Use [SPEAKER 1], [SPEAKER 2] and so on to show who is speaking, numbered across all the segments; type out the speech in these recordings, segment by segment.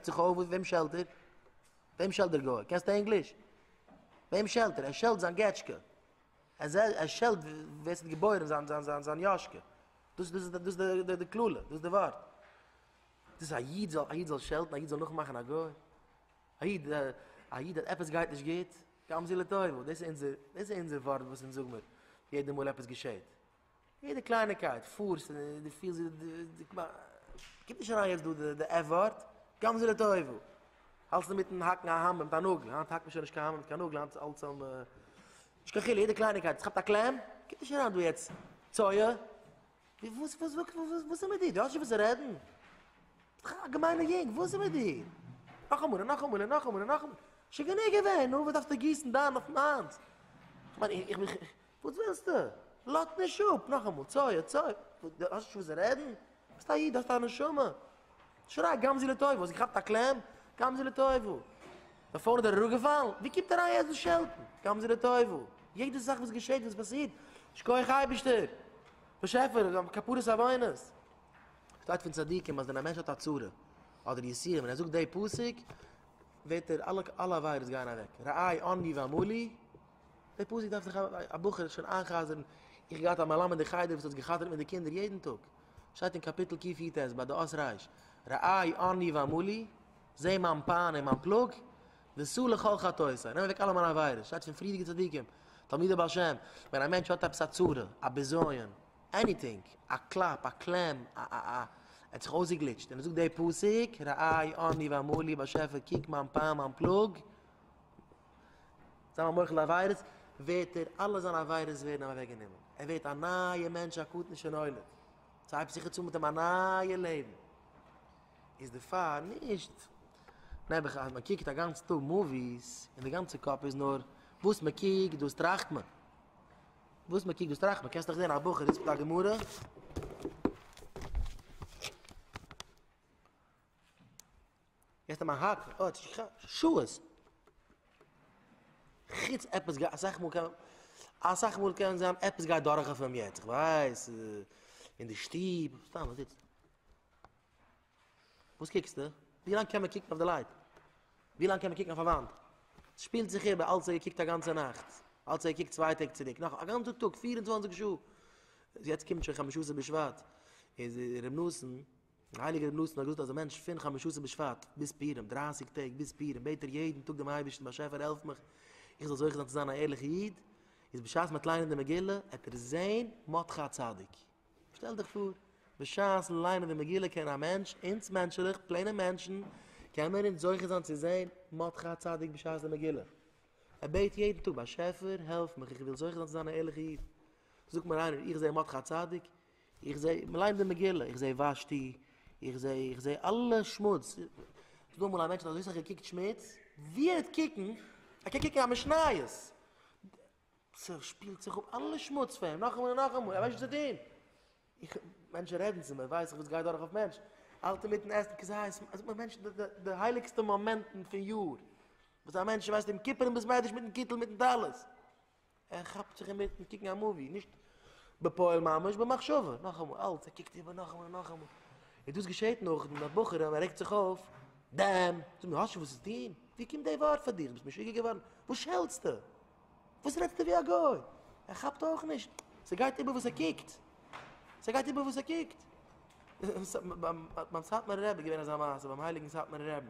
[SPEAKER 1] רעגט זיך אויף, וועם שעלט ער? וועם שעלט דער גוי? קענסטו ענגליש? וועם שעלט ער? ער שעלט זיין געטשקע. אזער ער שעלט ווער ס'האט געבוירען זיין זיין זיין זיין יאשקע. דאס דאס דאס איז די די די קללה, דאס די ווארט. דאס א איד זאל א איד זאל שעלטן, א איד זאל נאכמאכן א גוי. א איד א איד אז עפעס גייט נישט גוט, גם זו לטובה. דאס איז אונזער דאס איז אונזער ווארט וואס אונז זאג מיר יעדע מאל עפעס געשעהט. יעדע קלייניקייט פארסט און דו פילסט ווי דו דו כמעט קומט נישט אריין יעצט דא די די עף ווארט גם זה לטובו האלטסט אינמיטן האקן א האמער מיט א נאגל היינט האקט מען שוין נישט קיין האמער מיט קיין נאגל היינט אלץ אן נישט קיין חילוק יעדע קלייניקייט עס כאפט א קלעם קומט נישט אריין דא יעצט צויה ווי וואס וואס וואס וואס וואס איז מיט דיר דו האסט נישט וואס צו רעדן ביסט דאך א געמיינע יונג וואס איז מיט דיר נאכאמאל און נאכאמאל און נאכאמאל און נאכאמאל שוין גענוג געווען נו וואס דארפסטו גיסן דם אויף מיינס איך מיין איך איך וואס ווילסטו? לאט נישט אפ! נאכאמאל צויי א צויי! דו האסט נישט וואס רעדן? ביסט א איד, האסט א נשמה! שריי גם זו לטובה! האסט געכאפט א קלעם? גם זו לטובה! בעפאר איז דער אראפ געפאלן? ווי קומט אריין יעצט דאס שעלטן? גם זו לטובה! יעדע זאך וואס געשעט וואס פאסירט, שכוח אייבערשטער! באשעפער! כפרת עוונות! שטייט פון צדיקים אז ווען א מענטש האט א צרה אדער יסורים און ער זאגט די פסוק וועט ער אלע אלע עבירות גייען אוועק, ראה עני ואמור לי, די פסוק דארף זיך א בחור שוין איינ'חזר'ן, איך האב געהאט א מלמד אין חדר וואס האט זיך גע'חזר'ט מיט די קינדער יעדן טאג, שטייט אין קאפיטל קיף י ט ביי די אות רש, רעי עני ואמלי, זע מיין פיין און מיין פלאג, וסור לכל חטאותיי, נעם אוועק אלע מיינע עבירות, שטייט פון פריערדיגע צדיקים, תלמידי בעל שם, ווען א מענטש האט עפעס א צרה, א בזיון, עניטינג, א קלאפ, א קלעם, א א א, ער האט זיך אויסגעגליטשט, און ער זאגט די פסוק, רעי עני ואמלי, באשעפער קוק מיין פיין מיין פלאג, זיין א מוחל על עבירות, ווערט ער, אלע זיינע עבירות ווערן אים אוועק גענומען, ער ווערט א נייע מענטש א קטן שנולד, ס'הייבט זיך יעצט אן מיט אים א נייע לעבן, איז דערפאר נישט נעבעך אז מען קוקט א גאנץ טאג מאוויס און די גאנצע קאפ איז נאר וואס מען קוקט דאס טראכט מען, וואס מען קוקט דאס טראכט מען, קענסט דאך זען א בחור זיצט מיט א גמרא, יעצט מיין הארץ אוי האט נישט געכאפט שעות חוץ עפעס גייט אסאך מאל קען אסאך מאל קען זיין עפעס גייט דורך אויף אים יעצט כ'ווייס אין די שטוב סתם וואס זיצט וואס קוקסטו ווי לאנג קען מען קוקן אויף די לייט ווי לאנג קען מען קוקן אויף א וואנט שפילט זיך איבער אלץ ער געקוקט א גאנצע נאכט אלץ ער געקוקט צוויי טעג צוריק נאך א גאנצע טאג פֿיר און צוואַנציק שעה יעצט קומט שוין חמשה עשר בשבט איז ר' נתן דער הייליגער רבי נתן האט געזאגט אז א מענטש פון חמשות בשבט ביז פורים, דרייסיג טעג ביז פורים, בעט ער יעדן טאג דעם אייבערשטן באשעפער העלף מיך איך זאל זוכה זיין צו זיין א ערליכע איד, איז בשעת מ'העט ליינען די מגילה העט ער זען מותך הצדיק. שטעל דיך פאר, בשעת ליינען די מגילה קען א מענטש, אונז מענטשעלעך, פלעינע מענטשן, קען מיר אונז זוכה זיין צו זען מותך הצדיק בשעת די מגילה. ער בעט יעדן טאג באשעפער העלף מיך איך וויל זוכה זיין צו זיין א ערליכע איד. זאגט מיר איינער איך זע מותך הצדיק? איך זע, מען ליינט די מגילה, איך זע ושתי, איך זע, איך זע אלע שמוץ. האסט דא אמאל א מענטש האט אזוי סאך געקוקט שמוץ? ווי ער וועט קוקן, ער קען קוקן א משניות. ס'שפילט זיך אפ אלע שמוץ פון אים, נאכאמאל און נאכאמאל, ער ווייסט נישט וואס צו טון. איך, מענטשן רעדן צו מיר, ווייס איך וואס גייט דורך אויף מענטש. אלטער מיטן עסן כזית, ער זאגט מיר, מענטש, די, די, די הייליגסטע מאמענטן פון יאר, וואס א מענטש ווייסט יום כיפורים ביז מדרש מיטן קיטל מיטן טלית. ער כאפט זיך אינמיטן קוקן א מאווי, נישט בפועל ממש, במחשבה, נאכאמאל, אלץ ער קוקט איבער נאכאמאל און נאכאמאל. און דאס געשעהט נאך דעם אז בחורים, ער רעגט זיך אויף, דעם, זאג מיר, האסט שוין וואס צו טון? ווי קומט די ווארט פאר דיר? ביסט משוגע געווארן? וואס שעלטסטו? וואס רעדסטו ווי א גוי? ער כאפט אויך נישט, ס'גייט איבער וואס ער קוקט, ס'גייט איבער וואס ער קוקט. ביים סאטמארער רבי איז געווען אזא מעשה, ביים הייליגן סאטמארער רבי,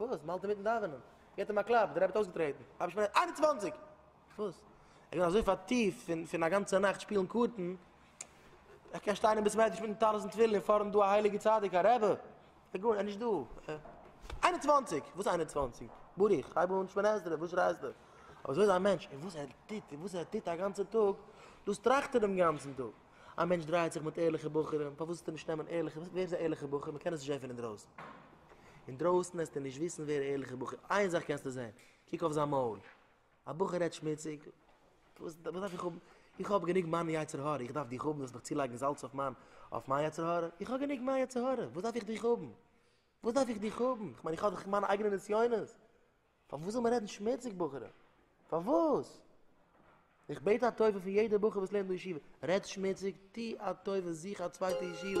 [SPEAKER 1] וואס? מ'האלט אינמיטן דאווענען, געט אים א קלאפ, דער רבי האט אויסגעטרעטן, האב איך שוין איין און צוואַנציק! וואס? איך בין אזוי פארטיפט פון פון א גאנצע נאכט שפילן קארטן, איך קען שטיין אין בית מדרש מיטן טלית תפילין און פארנט דא א הייליגע צדיק א רבי, ער איז נישט דא! איין און צוואַנציק! וואס איין און צוואַנציק? ברוך, הייב אן שמונה עשרה, וואס שרייסטע? אבער אזוי איז א מענטש, און וואס ער טוט, און וואס ער טוט א גאנצע טאג, דאס טראכט ער דעם גאנצן טאג. א מענטש דרייעט זיך מיט ערליכע בחורים, פארוואס זאלסטו נישט נעמען ערליכע, ווער איז א ערליכע בחור, מען קען עס נישט זען פון אינדרויסן. אינדרויסן וועסטו נישט וויסן ווער א ערליכע בחור, איין זאך קענסטו זען, קוק אויף זיין מויל, א בחור רעדט שמוציג, וואס דארף איך האבן, איך האב גענוג מיין יצר הרע, איך דארף דיך האבן זאלסט מיך צולייגן זאלץ אויף מיין, אויף מיין יצר הרע, איך האב גענוג מיין יצר הרע, וואס דארף איך דיך האבן. וואס דארף איך דיך האבן? כ'מיין איך האב דאך מיינע אייגענע נסיונות. פארוואס זאל מען רעדן שמוציג בחורים? פארוואס? איך בעט א טובה פון יעדע בחור וואס לערנט אין ישיבה, רעד שמוציג, טו א טובה זוך א צווייטע ישיבה.